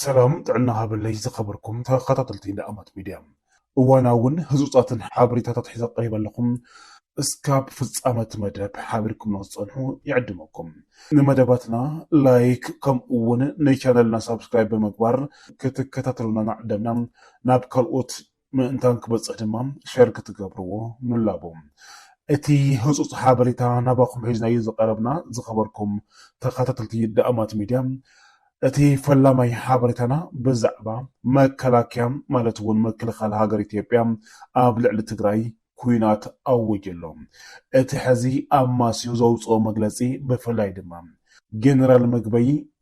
ሰላም ጥዕና ሃበለይ ዝኸበርኩም ተኸታተልቲ ንኣማት ሚድያ እዋናውን ህፁፃትን ሓበሬታታት ሒዘ ቀሪበ ኣለኹ እስካብ ፍፃመ እቲ መደብ ሓቢርኩምና ዝፀንሑ ይዕድመኩም ንመደባትና ላይክ ከምኡ እውን ንቻነልና ሳብስክራይብ ብምግባር ክትከታተሉና ናዕደምና ናብ ካልኦት ምእንታን ክበፅሕ ድማ ሸር ክትገብርዎ ንላቦ። እቲ ህፁፅ ሓበሬታ ናባኹም ሒዝናዮ ዝቐረብና ዝኸበርኩም ተኸታተልቲ ዳእማት ሚድያ እቲ ፈላማይ ሓበሬታና ብዛዕባ መከላከያ ማለት እውን ምክልኻል ሃገር ኢትዮጵያ ኣብ ልዕሊ ትግራይ ኩናት ኣወጅ ኣሎ። እቲ ሕዚ ኣማስዩ ዘውፅኦ መግለፂ ብፍላይ ድማ ጀነራል ምግበይ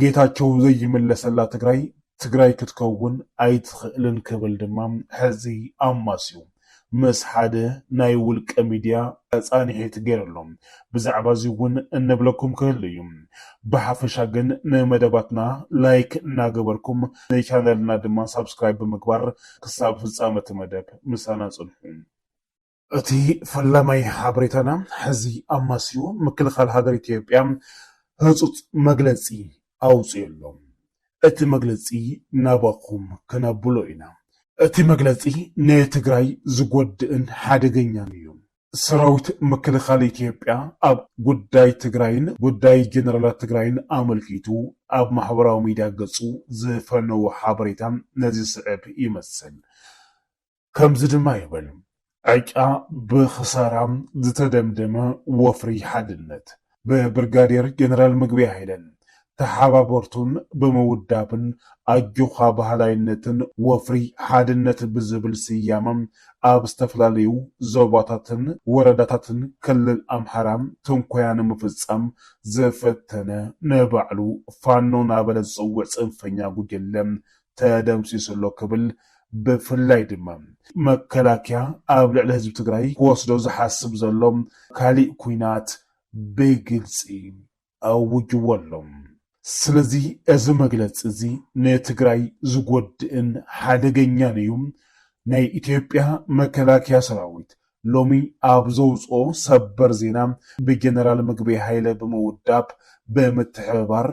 ጌታቸው ዘይምለሰላ ትግራይ ትግራይ ክትከውን ኣይትኽእልን ክብል ድማ ሕዚ ኣማስዩ ምስ ሓደ ናይ ውልቀ ሚድያ ፃንሒት ገይሩ ኣሎ። ብዛዕባ እዚ እውን እንብለኩም ክህሉ እዩ። ብሓፈሻ ግን ንመደባትና ላይክ እናገበርኩም ንቻነልና ድማ ሳብስክራይብ ብምግባር ክሳብ ፍፃመ እቲ መደብ ምሳና ፅንሑ። እቲ ፈላማይ ሓበሬታና ሕዚ ኣማስዩ ምክልኻል ሃገር ኢትዮጵያ ህፁፅ መግለፂ ኣውፂኡ ኣሎ። እቲ መግለፂ ናባኹም ክነብሎ ኢና። እቲ መግለፂ ንትግራይ ዝጎድእን ሓደገኛን እዩ። ሰራዊት ምክልኻል ኢትዮጵያ ኣብ ጉዳይ ትግራይን ጉዳይ ጀነራላት ትግራይን ኣመልኪቱ ኣብ ማሕበራዊ ሚዲያ ገፁ ዝፈነዎ ሓበሬታ ነዚ ዝስዕብ ይመስል። ከምዚ ድማ ይብል፣ ዕጫ ብኽሳራ ዝተደምደመ ወፍሪ ሓድነት፣ ብብርጋዴር ጀነራል ምግበይ ሃይለን ተሓባበርቱን ብምውዳብን ኣጆዃ በሃላይነትን ወፍሪ ሓድነት ብዝብል ስያመ ኣብ ዝተፈላለዩ ዞባታትን ወረዳታትን ክልል ኣምሓራ ትንኮያ ንምፍፃም ዝፈተነ ንባዕሉ ፋኖ ናበለ ዝፅውዕ ፅንፈኛ ጉጅለ ተደምሲሱ ኣሎ ክብል ብፍላይ ድማ መከላከያ ኣብ ልዕሊ ህዝቢ ትግራይ ክወስዶ ዝሓስብ ዘሎ ካሊእ ኲናት ብግልፂ ኣውጅዎ ኣሎ። ስለዚ እዚ መግለፂ እዚ ንትግራይ ዝጎድእን ሓደገኛን እዩ፣ ናይ ኢትዮጵያ መከላከያ ሰራዊት ሎሚ ኣብ ዘውፅኦ ሰበር ዜና ብጀነራል ምግበይ ሃይለ ብምውዳብ ብምትሕብባር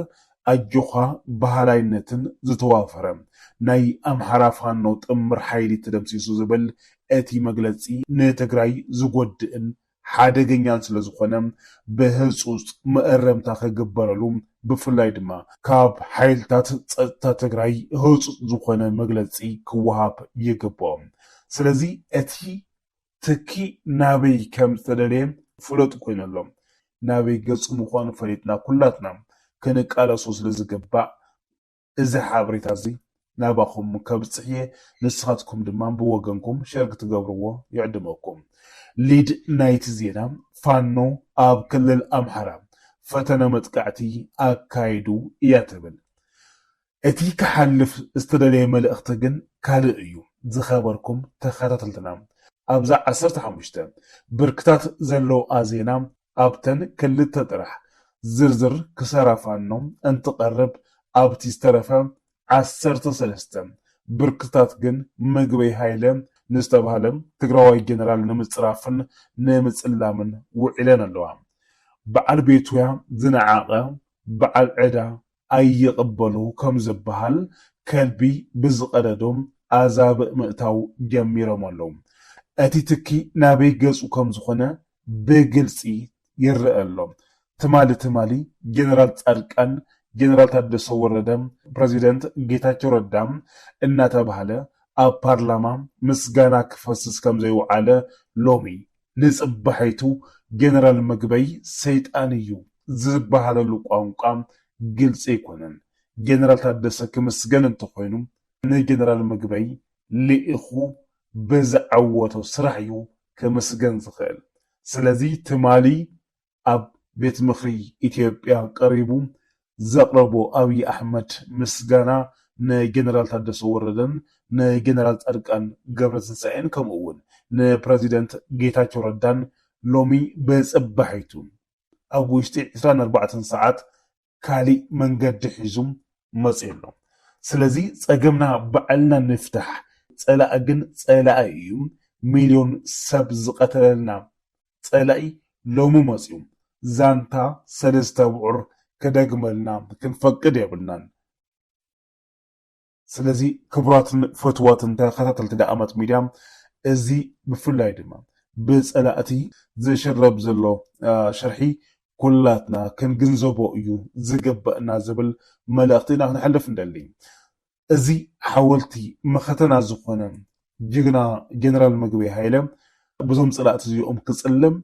ኣጆዃ በሃላይነትን ዝተዋፈረ ናይ ኣምሓራ ፋኖ ጥምር ሓይሊ ተደምሲሱ ዝብል እቲ መግለፂ ንትግራይ ዝጎድእን ሓደገኛን ስለዝኾነ ብህፁፅ መእረምታ ክግበረሉ ብፍላይ ድማ ካብ ሓይልታት ፀጥታ ትግራይ ህፁፅ ዝኾነ መግለፂ ክወሃብ ይግበኦ። ስለዚ እቲ ትኪ ናበይ ከም ዝተደለየ ፍሉጥ ኮይኑ ኣሎ። ናበይ ገጹ ምዃኑ ፈሊጥና ኩላትና ክንቃለሶ ስለ ዝግባእ እዚ ሓበሬታ እዚ ናባኹም ከብጽሕ እየ ንስኻትኩም ድማ ብወገንኩም ሸር ክትገብርዎ ይዕድመኩም። ሊድ ናይቲ ዜና ፋኖ ኣብ ክልል ኣምሓራ ፈተነ መጥቃዕቲ ኣካይዱ እያ ትብል። እቲ ክሓልፍ ዝተደለየ መልእኽቲ ግን ካልእ እዩ ዝኸበርኩም ተኸታተልትና ኣብዛ ዓሰርተ ሓሙሽተ ብርክታት ዘለውኣ ዜና ኣብተን ክልተ ጥራሕ ዝርዝር ክሳራ ፋኖ እንትቐርብ ኣብቲ ዝተረፈ ዓሰርተ ሰለስተ ብርክታት ግን ምግበይ ሃይለ ንዝተባህለ ትግራዋይ ጀነራል ንምፅራፍን ንምፅላምን ውዒለን ኣለዋ በዓል ቤቱያ ዝነዓቐ በዓል ዕዳ ኣይቕበሉ ከም ዝበሃል ከልቢ ብዝቐደዶ ኣዛብእ ምእታው ጀሚሮም ኣለዉ። እቲ ትኪ ናበይ ገጹ ከም ዝኾነ ብግልጺ ይረኣ ኣሎ። ትማሊ ትማሊ ጀነራል ጻድቃን፣ ጀነራል ታደሰ ወረደ፣ ፕረዚደንት ጌታቸው ረዳ እናተባህለ ኣብ ፓርላማ ምስጋና ክፈስስ ከም ዘይውዓለ ሎሚ ንጽባሒቱ ጀነራል ምግበይ ሰይጣን እዩ ዝበሃለሉ ቋንቋ ግልጺ ኣይኮነን። ጀነራል ታደሰ ክምስገን እንተኾይኑ ንጀነራል ምግበይ ልኢኹ ብዝዓወቶ ስራሕ እዩ ክምስገን ዝኽእል። ስለዚ ትማሊ ኣብ ቤት ምኽሪ ኢትዮጵያ ቀሪቡ ዘቕረቦ ኣብይ ኣሕመድ ምስጋና ንጀነራል ታደሰ ወረደን ንጀነራል ፃድቃን ገብረትንሳኤን ከምኡ እውን ንፕረዚደንት ጌታቸው ረዳን ሎሚ ብፅባሒቱ ኣብ ውሽጢ ዕስራን ኣርባዕተን ሰዓት ካሊእ መንገዲ ሒዙ መፂኡ ኣሎ ስለዚ ፀገምና ባዕልና ንፍታሕ ፀላኢ ግን ፀላኢ እዩ ሚልዮን ሰብ ዝቀተለልና ፀላኢ ሎሚ መፂኡ ዛንታ ሰለስተ ኣብዑር ክደግመልና ክንፈቅድ የብልናን። ስለዚ ክቡራትን ፈትዋትን ተኸታተልቲ ደኣማት ሚድያ እዚ ብፍላይ ድማ ብፀላእቲ ዝሽረብ ዘሎ ሽርሒ ኩላትና ክንግንዘቦ እዩ ዝግበእና ዝብል መልእኽቲ ኢና ክነሕልፍ ንደሊ። እዚ ሓወልቲ መኸተና ዝኾነ ጅግና ጀነራል ምግበይ ሃይለ ብዞም ፀላእቲ እዚኦም ክፅለም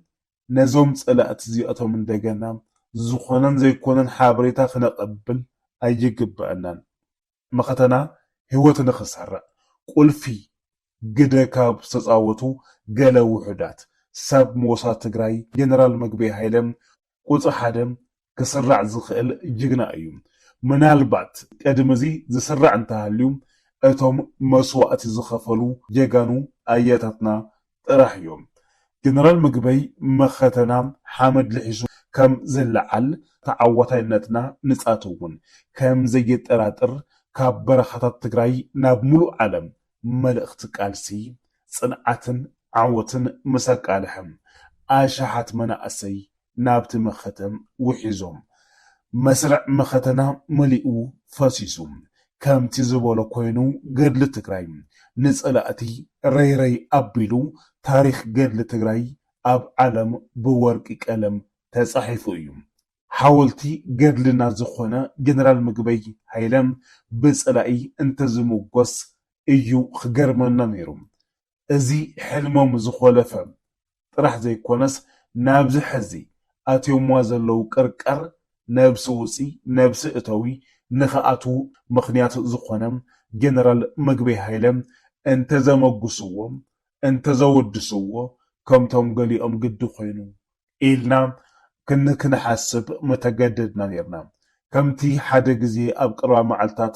ነዞም ጸላእቲ እዚኣቶም እንደገና ዝኾነን ዘይኮነን ሓበሬታ ክነቐብል ኣይግበኣናን። መኸተና ህይወት ንኽሰርዕ ቁልፊ ግደ ካብ ዝተጻወቱ ገለ ውሑዳት፣ ሳብ ሞሳድ ትግራይ ጀነራል ምግበይ ሃይለ፣ ቁጽሪ ሓደ ክስራዕ ዝኽእል ጅግና እዩ። ምናልባት ቅድሚ እዚ ዝስራዕ እንተሃልዩ እቶም መስዋእቲ ዝኸፈሉ ጀጋኑ ኣያታትና ጥራሕ እዮም። ጀነራል ምግበይ መኸተና ሓመድ ልሒሱ ከም ዝለዓል ተዓዋታይነትና ንፃት እውን ከም ዘየጠራጥር ካብ በረኻታት ትግራይ ናብ ሙሉእ ዓለም መልእኽቲ ቃልሲ፣ ጽንዓትን ዓወትን ምስ ኣቃልሐ፣ ኣሽሓት መናእሰይ ናብቲ መኸተ ውሒዞም። መስርዕ መኸተና መሊኡ ፈሲሱ። ከምቲ ዝበሎ ኮይኑ ገድሊ ትግራይ ንጸላእቲ ረይረይ ኣቢሉ ታሪኽ ገድሊ ትግራይ ኣብ ዓለም ብወርቂ ቀለም ተጻሒፉ እዩ። ሓወልቲ ገድልና ዝኾነ ጀነራል ምግበይ ሃይለ ብፀላኢ እንተዝሙጎስ እዩ ክገርመና ነይሩ። እዚ ሕልሞም ዝኾለፈ ጥራሕ ዘይኮነስ ናብዚ ሐዚ ኣትዮምዋ ዘለው ቅርቃር ነብሲ ውፂ ነብሲ እተዊ ንክኣትው ምኽንያት ዝኾነ ጀነራል ምግበይ ሃይለ እንተዘመጉስዎ እንተዘወድስዎ ከምቶም ገሊኦም ግዲ ኮይኑ ኢልና ክንሓስብ ምተገደድና ኔርና። ከምቲ ሓደ ግዜ ኣብ ቀረባ መዓልታት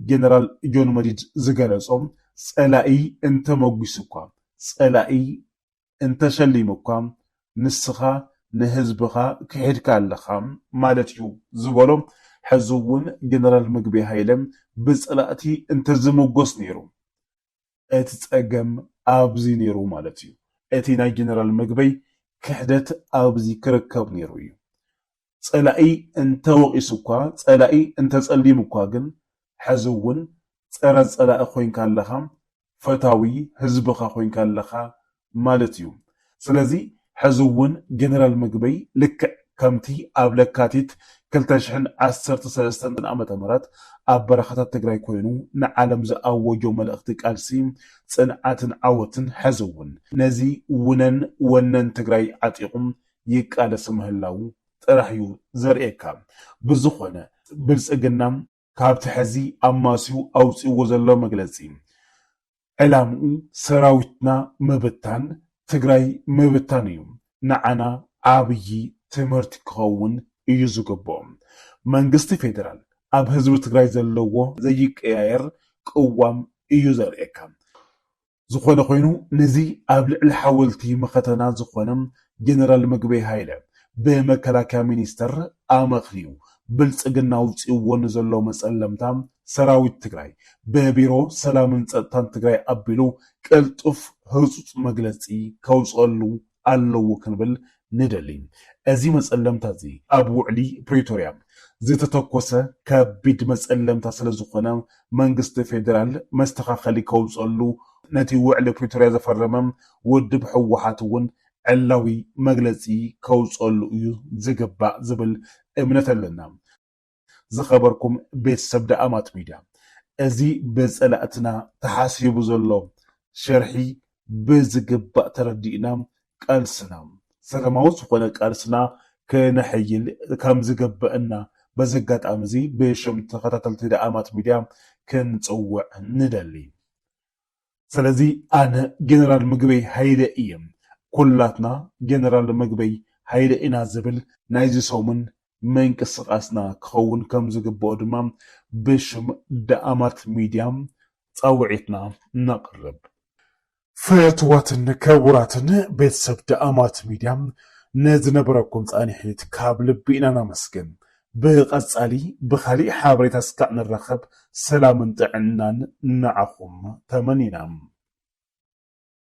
ጀነራል ጆን መዲድ ዝገለጾ፣ ጸላኢ እንተመጒሱኳ፣ ጸላኢ እንተሸሊሙኳ፣ ንስኻ ንህዝብኻ ክሒድካ ኣለኻ ማለት'ዩ ዝበሎ፣ ሕዚ'ውን ጀነራል ምግበይ ሃይለ ብጸላእቲ እንተዝምጎስ ኔሩ፣ እቲ ጸገም ኣብዚ ነይሩ ማለት እዩ። እቲ ናይ ጀነራል ምግበይ ክሕደት ኣብዚ ክርከብ ነይሩ እዩ። ጸላኢ እንተወቒሱ እኳ፣ ጸላኢ እንተጸሊሙ እኳ ግን ሕዚ እውን ጸረ ጸላኢ ኮይንካ ኣለኻ፣ ፈታዊ ህዝብኻ ኮይንካ ኣለኻ ማለት እዩ። ስለዚ ሕዚ እውን ጀነራል ምግበይ ልክዕ ከምቲ ኣብ ለካቲት ክልተ ሽሕን ዓሰርተ ሰለስተን ዓመተ ምህረት ኣብ በረኻታት ትግራይ ኮይኑ ንዓለም ዝኣወጆ መልእኽቲ ቃልሲ ፅንዓትን ዓወትን ሕዚ እውን ነዚ ውነን ወነን ትግራይ ዓጢቑ ይቃለስ ምህላዉ ጥራሕ እዩ ዘርእየካ። ብዝኾነ ብልፅግና። ካብቲ ሐዚ ኣማስዩ ኣውፂእዎ ዘሎ መግለፂ ዕላምኡ ሰራዊትና ምብታን ትግራይ ምብታን እዩ። ንዓና ዓብዪ ትምህርቲ ክኸውን እዩ ዝግብኦ። መንግስቲ ፌዴራል ኣብ ህዝቢ ትግራይ ዘለዎ ዘይቀያየር ቅዋም እዩ ዘርእየካ። ዝኾነ ኾይኑ ነዚ ኣብ ልዕሊ ሓወልቲ መኸተና ዝኾነ ጀነራል ምግበይ ሃይለ ብመከላከያ ሚኒስተር ኣመኽንዩ ብልፅግና ኣውፂእዎ ንዘሎ መፀለምታ ሰራዊት ትግራይ ብቢሮ ሰላምን ፀጥታን ትግራይ ኣቢሉ ቅልጡፍ ህፁፅ መግለፂ ከውፀሉ ኣለዎ ክንብል ንደሊ። እዚ መፀለምታ እዚ ኣብ ውዕሊ ፕሪቶርያ ዝተተኮሰ ከቢድ መፀለምታ ስለዝኾነ መንግስቲ ፌዴራል መስተኻኸሊ ከውፀሉ ነቲ ውዕሊ ፕሪቶርያ ዘፈረመ ውድብ ህወሓት እውን ዕላዊ መግለፂ ከውፀሉ እዩ ዝግባእ ዝብል እምነት ኣለና። ዝኸበርኩም ቤተሰብ ደኣማት ሚድያ እዚ ብፀላእትና ተሓሲቡ ዘሎ ሸርሒ ብዝግባእ ተረዲእና ቃልስና ሰላማዊ ዝኾነ ቃልስና ክነሕይል ከምዝግበእና በዚ ኣጋጣሚ እዚ ብሽም ተኸታተልቲ ደኣማት ሚድያ ክንፅውዕ ንደሊ። ስለዚ ኣነ ጀነራል ምግበይ ሃይለ ኢየ ኩላትና ጀነራል ምግበይ ሃይለ ኢና ዝብል ናይዚ ሰሙን ምንቅስቃስና ክኸውን ከምዝግበኦ ድማ ብሽም ዳኣማት ሚድያ ፃውዒትና ነቅርብ። ፍትዋትን ክቡራትን ቤተሰብ ዳኣማት ሚድያ ንዝነበረኩም ፃኒሒት ካብ ልቢ ኢና ነመስግን። ብቀጻሊ ብካሊእ ሓበሬታ ስካዕ ንራከብ ሰላምን ጥዕናን ንዓኩም ተመኒና።